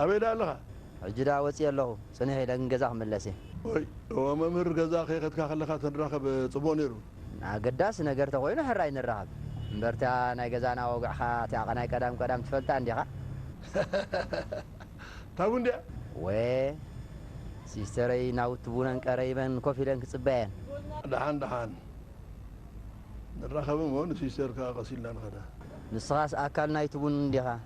ኣበይ ደኣ ኣለኻ? ሕጂ ደኣ ወጺኤ ኣለኹ፣ ጽንሕ ኢለ ግን ገዛ ክምለስ እየ። ኦይ! እወ መምህር፣ ገዛ ከይኸድካ ከለኻ ተንራኸብ ጽቡቕ ነይሩ። ኣገዳሲ ነገር ተኾይኑ ሕራይ ንራኸብ። እምበር እታ ናይ ገዛና ወግዕኻ እቲኣ ቐናይ ቀዳም ቀዳም ትፈልጣ እንዲኻ? እታ ቡን ድያ? እወ ሲስተረይ ናውቲ ቡነን ቀረይበን ኮፍ ኢለን ክጽበያ እየን። ደሓን ደሓን ንራኸብ እሞ ንሲስተር ከኣ ቀስ ኢልና ንኸዳ። ንስኻስ ኣካል ናይቲ ቡን እንዲኻ?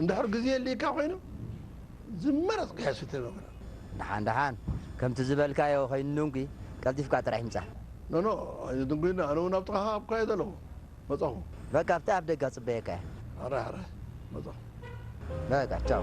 እንድሕር ግዜ ኣልይካ ኮይኑ ዝመረጽካዮ ስተ መግረ። ደሓን ደሓን ከምቲ ዝበልካዮ ከይንድንጒ ቀልጢፍካ ጥራሕ ምጻ። ኖኖ ኣይንድንጒን ኣነውን ኣብ ጥቓኻ ኣብካዮ ዘለኹ። መጻኹ። በቃ ኣብቲ ኣብ ደገ ክጽበየካ እየ። ሕራይ ሕራይ መጻኹ። በቃ ቻው።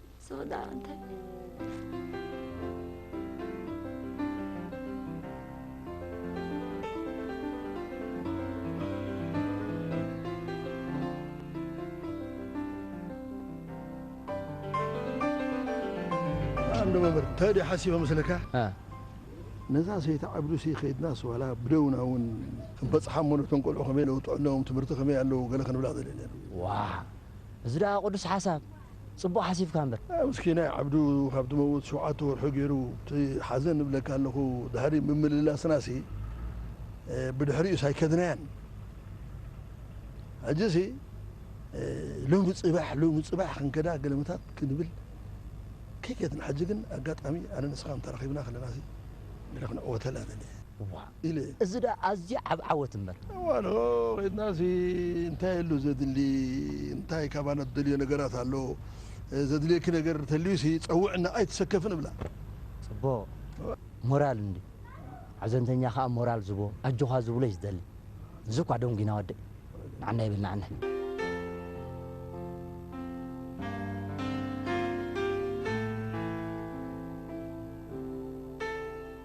ዝወደኣ እንታይ ኣንዶ መምህር እንታይ ድዩ ሓሲበ መስለካ ነዛ ሰይቲ ዓብዱሲ ከይድናስ ዋላ ብደውና እውን ክንበፅሓ እሞ ነቶም ቆልዑ ከመይ ለውጡ ኣለዎም ትምህርቲ ከመይ ኣለዉ ገለ ክንብላ ደልየ ነይሩ ዋ እዚ ደኣ ቅዱስ ሓሳብ ጽቡቅ ሓሲብካ እምበር። ምስኪናይ ዓብዱ ካብ ትመውት ሸውዓተ ወርሑ ጌሩ እቲ ሓዘን እብለካ ኣለኹ ድሕሪ ምምልላስና ሲ ብድሕሪኡስ ኣይከድናያን ሕጂ ሲ ሎሚ ጽባሕ ሎሚ ጽባሕ ክንከዳ ገለመታት ክንብል ከይከድና ሕጂ ግን ኣጋጣሚ ኣነ ንስኻን ተራኺብና ከለና ሲ ገለ ክንዕወተላ ደልየ። እዋ ኢለ እየ። እዚ ድኣ ኣዝዩ ዓቢ ዓወት እምበር። እዋኑ ከይድናሲ እንታይ ኣሎ ዘድሊ እንታይ ካባና ትደልዮ ነገራት ኣሎ ዘድልየኪ ነገር ተልዩሲ ጸውዕና ኣይትሰከፍን እብላ። ጽቡቕ ሞራል እንድዩ ሓዘንተኛ ከኣ ሞራል ዝህቦ ኣጆኻ ዝብሎ እዩ ዝደሊ እዚ እኳ ደንጒና ወደይ ንዓና ይብል ንዓና።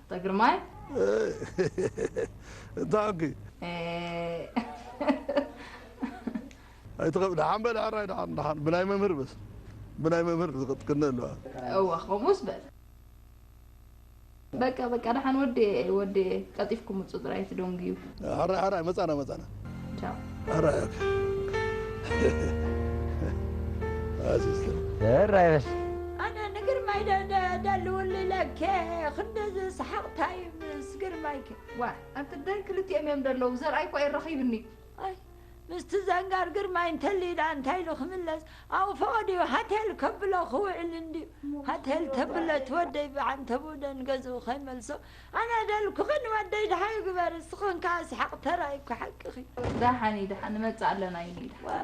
እታ ግርማይ? እይ እታ ዕንኪ? እይ። ኣይትኸ ደሓን በል ሕራይ ደሓን ደሓን ብናይ መምህር በስ ብናይ መምህር ዝቕጥቅነ ኣለዋ። እወ ከምኡስ በል። በቃ በቃ ደሓን ወዴ ወዴ ቀልጢፍኩም ምጹ ጥራይ ትደንጉዩ። ሓራይ ሓራይ መጻና መጻና ቻው ሓራይ ኦኬ ኣሲስተር ሕራይ በስ ኣነ ንግርማይ ደ- ደ- ደልውሉ ኢለከ ክንደዚ ሰሓቕታይ ምስ ግርማይከ ዋ ኣንተ ደን ክልቲኦም እዮም ደለዉ ዘርኣይ እኳ የረኺብኒ ኣይ ምስቲ ዘንጋር ግርማይ እንተልዩ ደኣ እንታይ ኢሉ ክምለስ ኣብኡ ፈቐድዩ ሃቴል ከብሎ ክውዕል እንድዩ ሃቴል ተብሎ እቲ ወደይ ብዓንተብኡ ደንገዝኡ ከይመልሶ ኣነ ደልኩኺ ንወደይ ደሃዩ ግበሪ ስኽን ከኣ ስሓቅ ተራይ እኮ ሓቅኺ። ዳሓን ይድሓን ንመጽእ ኣለና ይኒ ይድሓን።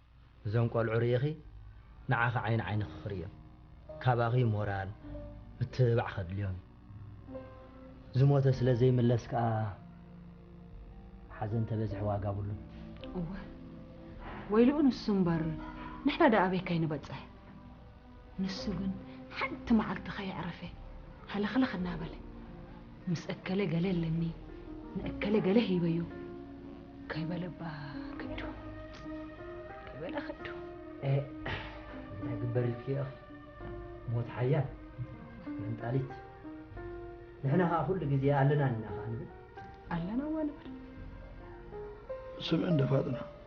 እዞም ቆልዑ ሪኢኺ ንዓኺ ዓይኒ ዓይንኺ ክርእዮም ካባኺ ሞራል ምትብባዕ ከድልዮም እዩ ዝሞተ ስለ ዘይምለስ ከኣ ሓዘን ተበዝሒ ዋጋ ብሉን እወ ወይልኡ ንሱ እምበር ንሕና ደኣ ኣበይ ከይንበጽሕ ንሱ ግን ሓንቲ መዓልቲ ከየዕረፈ ሃለኽለኽ እናበለ ምስ እከለ ገለ ኣለኒ ንእከለ ገለ ሂበዮ ከይበለ እባ ክዱ ከይበለ ክዱ እንታይ ግበር ኢልኪ ኢኺ ሞት ሓያል መንጣሊት ንሕና ከዓ ኩሉ ግዜ ኣለና ኢና ከዓ ንብል ኣለና እዋ ንብል ስምዕን ደፋጥና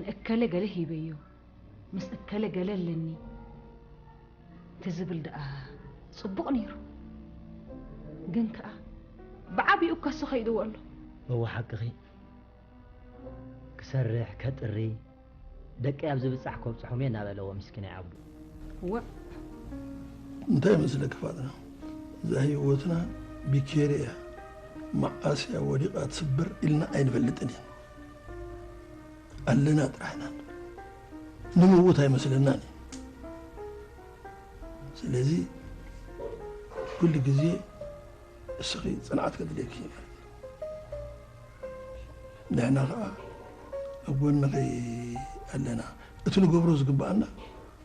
ንእከለ ገለ ሂበዮ ምስ እከለ ገለ ኣለኒ ትዝብል ደኣ ጽቡቕ ነይሩ ግን ከኣ ብዓቢኡ ከሱ ከይድዎ ኣሎ እወ ሓቅኺ ክሰርሕ ከጥሪ ደቀይ ኣብ ዝብጻሕ ከብጽሖም እየ እናበለዎ ምስኪናይ ኣቦ እዋእ እንታይ መስለኪ ፋጥና እዛ ሂወትና ቢኬሪ እያ መዓስ እያ ወዲቃ ትስበር ኢልና ኣይንፈልጥን ኢና ኣለና ጥራሕ ኢና ንምውት ኣይመስለናን እዩ ስለዚ ኩሉ ግዜ እስኺ ፅንዓት ከድልየኪ እዩ ማለት እዩ ንሕና ከዓ ኣብ ጎንኺ ኣለና እቲ ንገብሮ ዝግብኣና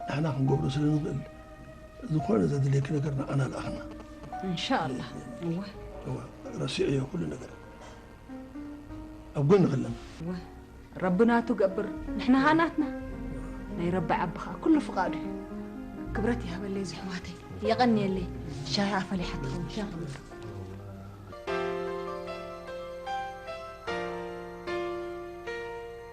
ንሕና ክንገብሮ ስለ ንኽእል ዝኾነ ዘድልየኪ ነገር ንዓና ልኣኽና እንሻኣላህ እወ እወ ረሲዐዮ ኩሉ ነገር ኣብ ጎኒ ከለና እወ ረቢ ናቱ ገብር ንሕና ኸኣ ናትና ናይ ረቢ ዓቢ ኸኣ ኩሉ ፍቓዱ እዩ ክብረት ይሃበለይ ዝሕዋተይ የቐንየለይ ሻሂ ኣፈሊሓ ትኸውን ሻሂ ክብለካ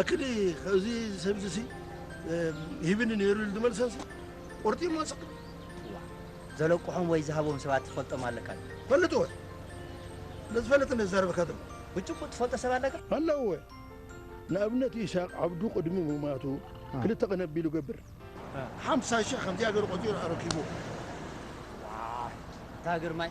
ኣክሊ እዚ ሰብዚ ሲ ሂብኒ ነይሩ ኢሉ ዝመልሰንሲ ቆርጢሞ ወፅእ ዘለቅሖም ወይ ዝሃቦም ሰባት ትፈልጦም ኣለካ ፈልጥ ወ ለዝፈለጥ እንደዛረበካ ዘሎ ብጭቡጥ ትፈልጦ ሰብ ኣለካ ኣለዎ ወ ንኣብነት ኢሳቅ ዓብዱ ቅድሚ ምማቱ ክልተ ቅነ ኣቢሉ ገብር ሓምሳ ሽሕ ከምዚኣ ገይሩ ቆፂሩ ኣረኪብዎ እታ ግርማይ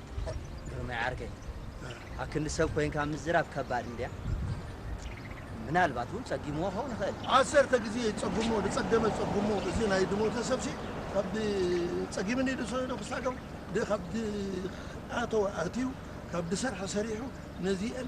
ግርማይ ዓርከይ ኣክንዲ ሰብ ኮይንካ ምዝራብ ከባድ እንድያ ምናልባት እውን ጸጊምዎ ክኸውን ይኽእል ዓሰርተ ግዜ ጸጉሞ ዝጸገመ ጸጉሞ እዚ ናይ ድሞተ ሰብሲ ካብ ጸጊምኒ ድሰዶ ክሳገም ካብ ኣተወ ኣትዩ ካብ ድሰርሐ ሰሪሑ ነዚአን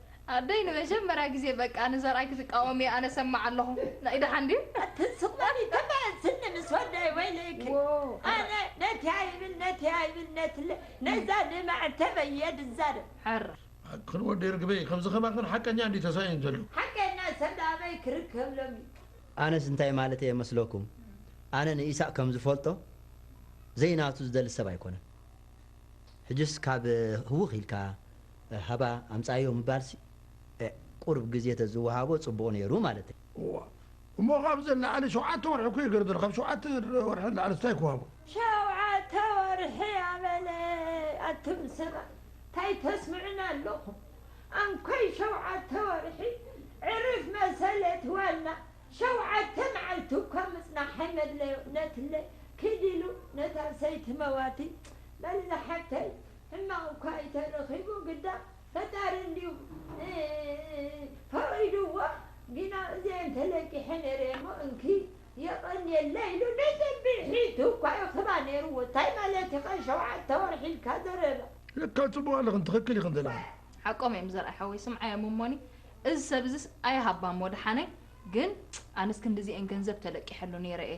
ኣደይ ንመጀመርያ ግዜ በቃ ንዘርኣይ ክትቃወም እያ ኣነ ሰማዕ ኣለኹ ናይ ደሓን ድዩ ኣቲ ስቅባኒ ተመያዝኒ ምስ ወደይ ወይለይኪ ኣነ ነቲ ኣይብል ነቲ ኣይብል ነትለ ነዛ ንማዕተበይ እየ ድዛረብ ዓር። ኣክን ወዲ ርግበይ ከምዚ ከማክን ሓቀኛ እንድዩ ተሳኢኑ ዘሎ። ሓቀኛ ሰብ ዳኣ ኣበይ ክርከብ ሎሚ። ኣነስ እንታይ ማለተይ እየ መስለኩም ኣነ ንኢሳቅ ከም ዝፈልጦ ዘይናቱ ዝደሊ ሰብ ኣይኮነን ሕጅስ ካብ ህውኽ ኢልካ ሃባ ኣምጻኣዮ ምባልሲ ኤእ ቁሩብ ግዜ ተዝወሃቦ ጽቡቅ ኔሩ ማለተይ። እዋ እሞ ካብዚ ንላዕሊ ሸውዓተ ወርሒ እኮ ይግርድር ካብ ሸውዓተ ወርሒ ንላዕልስ ታይ ክዋቦ። ሸውዓተ ወርሒ ኣበለ ኣቱም ሰባት ታይ ተስምዑኒ ኣለኹም ኣንኮይ ሸውዓተ ወርሒ ዕርፍ መሰለት ዋና ሸውዓተ መዓልቲ እኳ ምጽናሕ ኣይመድለዮ ነትለ ኪድ ኢሉ ነታ ሰይቲ መዋቲ በል ዝሓፍተይ ሕማቅ እኳ ኢተረኪቡ ግዳ ፈጣሪ እንድዩ ፈቂድዎ ግና እዚኤን ተለቂሐን እረ እሞ እንኪ የቀንየለይ ኢሉ ንፅብሒቱ እኳ ይክባ ነይርዎ ታይ ማለት ኢካ ሸውዓተ ወርሒ ኢልካ ዘረባ። ለካ ፅቡቅ ኣለኽን ትኽክል ኢኽን ዘለኽን። ሓቆም እዮም ዘርኣይ ሓወይ ስምዓዮም እሞኒ እዚ ሰብ እዚስ ኣይሃባ እሞ ደሓነ ግን ኣነስ ክንድዚኤን ገንዘብ ተለቂሐሉ ነይረ እየ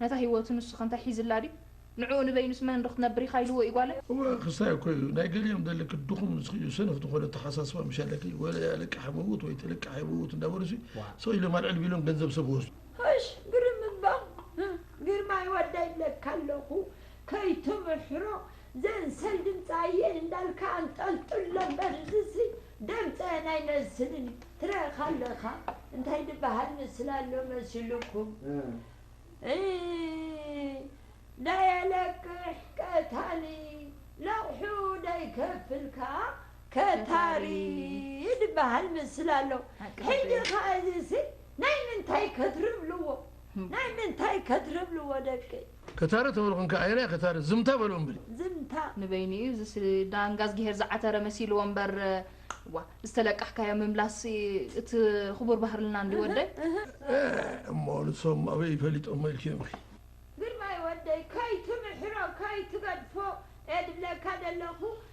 ነታ ሂወቱ ንሱ ከ እንታይ ሒዝላ ድዩ ንዕኡ ንበይኑስ መን ዶ ክትነብር ኢካ ኢልዎ እዩ ጓለይ። እወ ክስታይ እኮ እዩ ናይ ገሊኦም ደልክ ድኹም ንስኺ እዩ ሰነፍ ዝኾነ ኣተሓሳስባ ምሽ ኣለኪ ወለ ኣለቃሕ ምውት ወይ ተለቃሕ ይምውት እንዳበሉሲ ስቅ ኢሎም ኣልዕል ቢሎም ገንዘብ ሰብ ይወስዱ። እሽ ግርም እባ ግርማይ ወደይ ይብለካ ኣለኩ ከይትምሕሮ ዘንሰል ድምፃ እየን እንዳልካ ኣንጠልጥሎ እምበር እዚሲ ደምፀ ናይ መስልን ትረክ ኣለካ እንታይ ድበሃል ምስላ ኣሎ መስልኩም ናይ ኣለቅሕ ቀታሊ ለቕሑ ደይከፍል ከኣ ከታሪ ድበሃል ምስላ ኣሎ ሕጂ ከኣ እዚሲ ናይ ምንታይ ከትርብልዎ ናይ ምንታይ ከትርብልዎ ደቀይ ከታሪ ተበልኩንካ ኣየናይ ከታሪ ዝምታ በሎ እምብሪ። ዝምታ ንበይኑ እዩ እዚስ ዳንጋ እዝጊሄር ዝዓተረ መሲልዎ እምበር እዋ ዝተለቃሕካዮ ምምላስ እቲ ክቡር ባህርልና እንድዩ ወደይ። ኤህ እሞ ንሶም ኣበይ ፈሊጦሞ ኢልኪ እምቢ። ግርማይ ወደይ ከይትምሕሮ ከይትገድፎ እየ ድብለካ ደለኩ።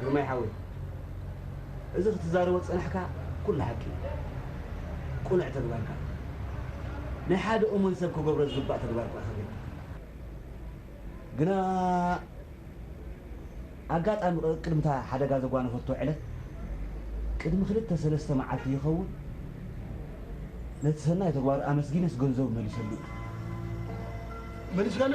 ግርማይ ሓወይ እዚ ክትዛረቦ ዝጸናሕካ ኩሉ ሓቂ እዩ ቁኑዕ ተግባርካ ናይ ሓደ እሙን ሰብ ክገብሮ ዝግባእ ተግባር ኩኣ ከገድፍ ግና ኣጋጣሚ ቅድሚ እታ ሓደጋ ዘጓነፈቶ ዕለት ቅድሚ ክልተ ሰለስተ መዓልቲ ይኸውን ነቲ ሰናይ ተግባሩ ኣመስጊነስ ገንዘቡ መሊሰሉ እዩ መሊስካና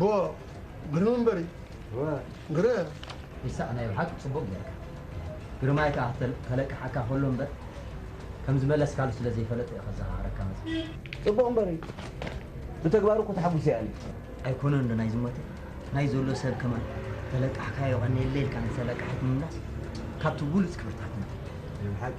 ብ ግርመንበሪ ግረ ኢሳቕ ናይ ብሓቂ ጽቡቕ ጌርካ ግርማይ ከኣ ከለቅሓካ ከሎ እምበር ከም ዝመለስካሉ ስለ ዘይፈለጠ እዩ ከዘኻኽረካ መጺኡ። ጽቡቕ እምበሪ ብተግባሩ እኮ ተሓጉሰ እያ ኣነ። ኣይኮነን ዶ ናይ ዝሞተ ናይ ዘሎ ሰብ ከማን ተለቃሕካዮ ቀንየለይ ኢልካ ንተለቃሒት ምምላስ ካብቲ ቡሉጽ ክብርታትና። ናይ ብሓቂ